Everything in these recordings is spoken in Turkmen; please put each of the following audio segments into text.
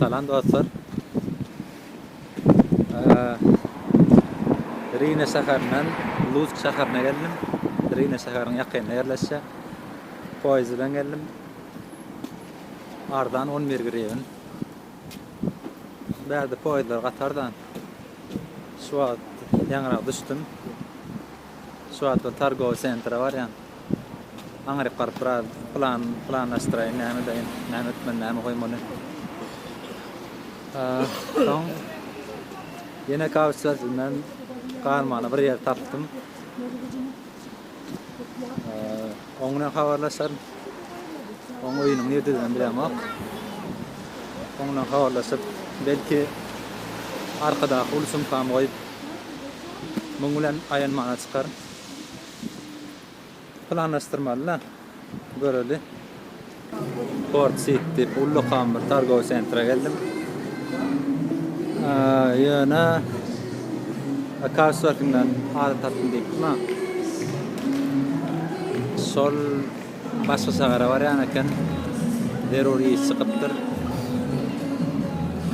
Salam dostlar. Rine şäherinden Lusk şäherine geldim. Rine şäheriniň ýakynda ýerleşýär. Poýez bilen geldim. Arzan 11 griwen. Bärde poýezler gatardan. Şu wagt ýaňyrak düşdüm. Şu wagtlar targowy sentra barýan. Aňryk baryp biraz plan planlaşdyraýyn näme edeýin, näme etmeli, näme goýmaly. Soň ýene kawusçylar bilen galmaly bir ýer tapdym. Oň bilen habarlaşaryn. Oň öýüniň nirdediginem bilemok. Oň bilen habarlaşyp, belki arkadaky uly sumkamy goýup, muň bilen aýanmana çykaryn. Planlaşdyrmaly-da, göreli. Port Siti ullakan bir targowy sentra geldim. Ýöne Kawswerkinden azyk tapdym diýipdim ha. Şol başga şähere barýan eken. Zerur iş çykypdyr.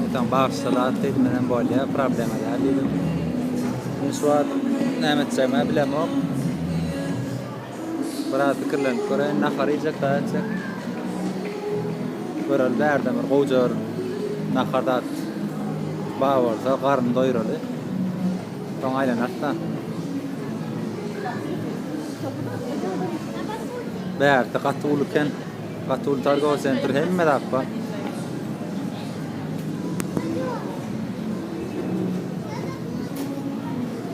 Etan bagşysa zat diýdim, men hem bolýar, problema däl diýdim. Men şu wagt näme etjegimi bilemok. Biraz pikirlenip göreýin. Nahar iýjek, daýy etjek. Göreli bärden bir gowja bir nahar zat bar bolsa, garny doýuraly. Soň aýlanarys-da. Bärde gaty uly eken. Gaty uly targowy sentr, hemme zat bar.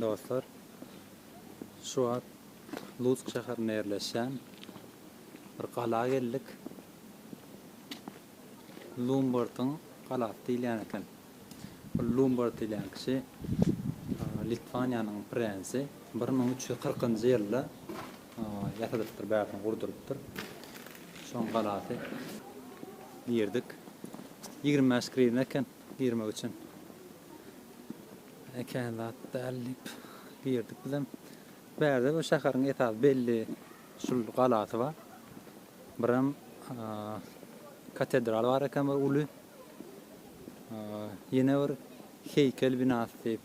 Dostlar, şu wagt Lutsk şäherinde ýerleşýän bir gala geldik. Lumbartyň galasy diýilýän eken. Bu Lumbart diýilýän kişi Litwaniýanyň prensi 1340-njy ýylda Ýasadypdyr, bärden gurdurypdyr. Şoň galasy. Girdik. Ýigrimi bäş grivna eken girmek üçin. Kän zat däl diýip, girdik bizem. Bärde bu şäheriň esasy belli şul galasy bar. Birem katedral bar eken bir uly. Ýene bir heýkel binasy diýip.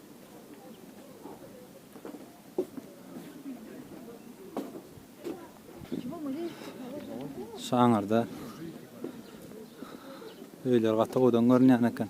Şu aňyrda öýler gaty gowdan görünýän eken.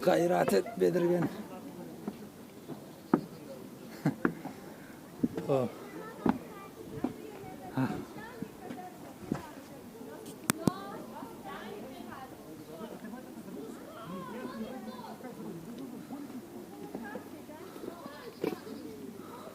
Gayrat et Bedirgen. oh.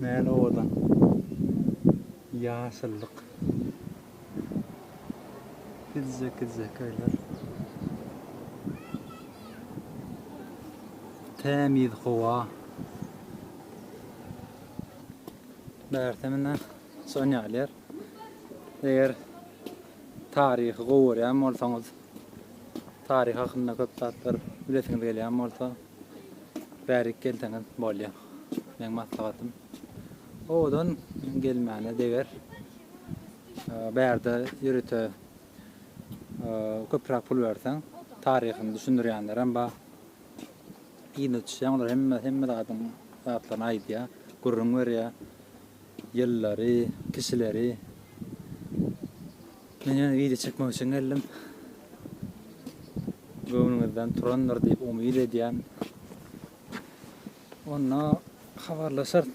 Näl owadan. Ýaşyllyk. Kiçijek-kiçijek öýler. Tämiz howa. Bärde mine şon ýaly Eger taryhy gowy görýän bolsaňyz, taryh hakynda köp zatlar bilesiňiz gelýän bolsa, Bärik gelseňiz bolýa. Meň maslahatym owadan gelmäne deger. Bärde ýörite köpräk pul berseň, taryhyny düşündirýänler hem bar. Yzyna düşýäň, olar hemme hemme zadyň zatlaryny aýdýa, gürrüň berýä. Ýyllary, kişileri. Men ýene wideo çekmek üçin geldim. Göwnüňizden turandyr diýip umyt edýän. Onda habarlaşarys.